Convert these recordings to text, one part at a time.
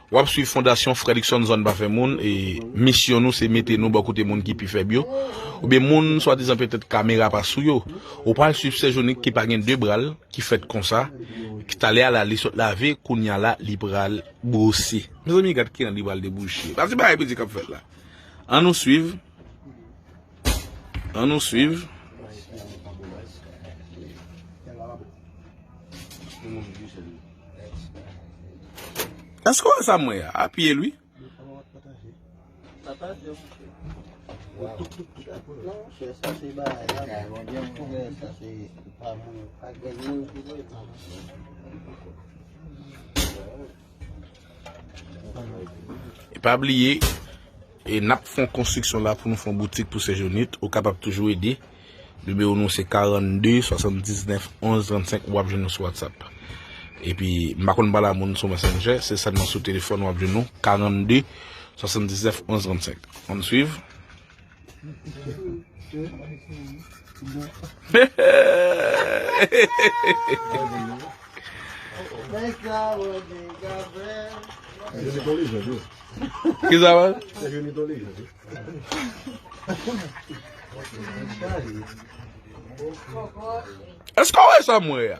Wap swiv fondasyon Fredrickson zòn pa fè moun e misyon nou se mete nou bò kote moun ki pi fèb yo oubyen moun swadizan petèt kamera pa sou yo ou pral swiv sè Jonik ki pa gen 2 bra l ki fèt konsa ki talè a la li sot lave kounya la li pral bwose mezanmi gad kijan li pral debouche gad se bagay piti kap fèt la an nou swiv. An nou swiv. Eske w wè sa m wè a? A pye l wi. E pa bliye, e n ap fon konstriksyon la pou nou fon boutik pou Sejournit. Ou kapab toujou ede. Nimewo nou se 42 79 11 35 ou ap jwenn nou sou WhatsApp. E pi, m pa konn pale a moun sou Messenger, se sèlman sou telefòn ou ap jwenn nou, 42 79 11 35. An nou suiv. Eske w wè sa m wè a?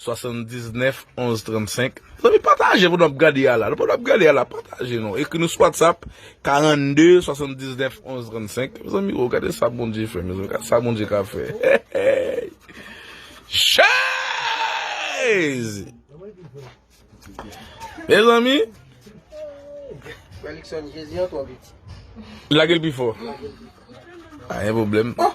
79 11 35 Zanmi pataje pou nou ap gade a la Nou pa nou ap gade a la pataje nou Ekri nou sou whatsapp 42 79 11 35 Mezanmi oo gade sa Bondye fè mezanmi Gade sa Bondye ka fè Heyy Jezi Mezanmi Felikson Jezi an twò piti Lage l pi fò Lage l pi fò Pa gen pwoblèm Oh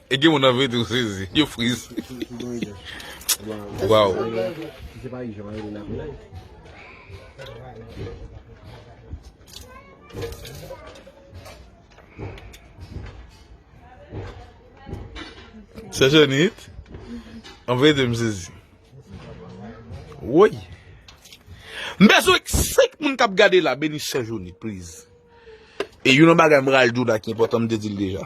E gen moun anvi tou sezi. Yo friz. Waw. Se jenit. Anvi de m sezi. Woy. M bezwen k sik moun kap gade la. Beni se jenit pliz. E yon nan bagay m ral di w la ki enpotan m te di l deja.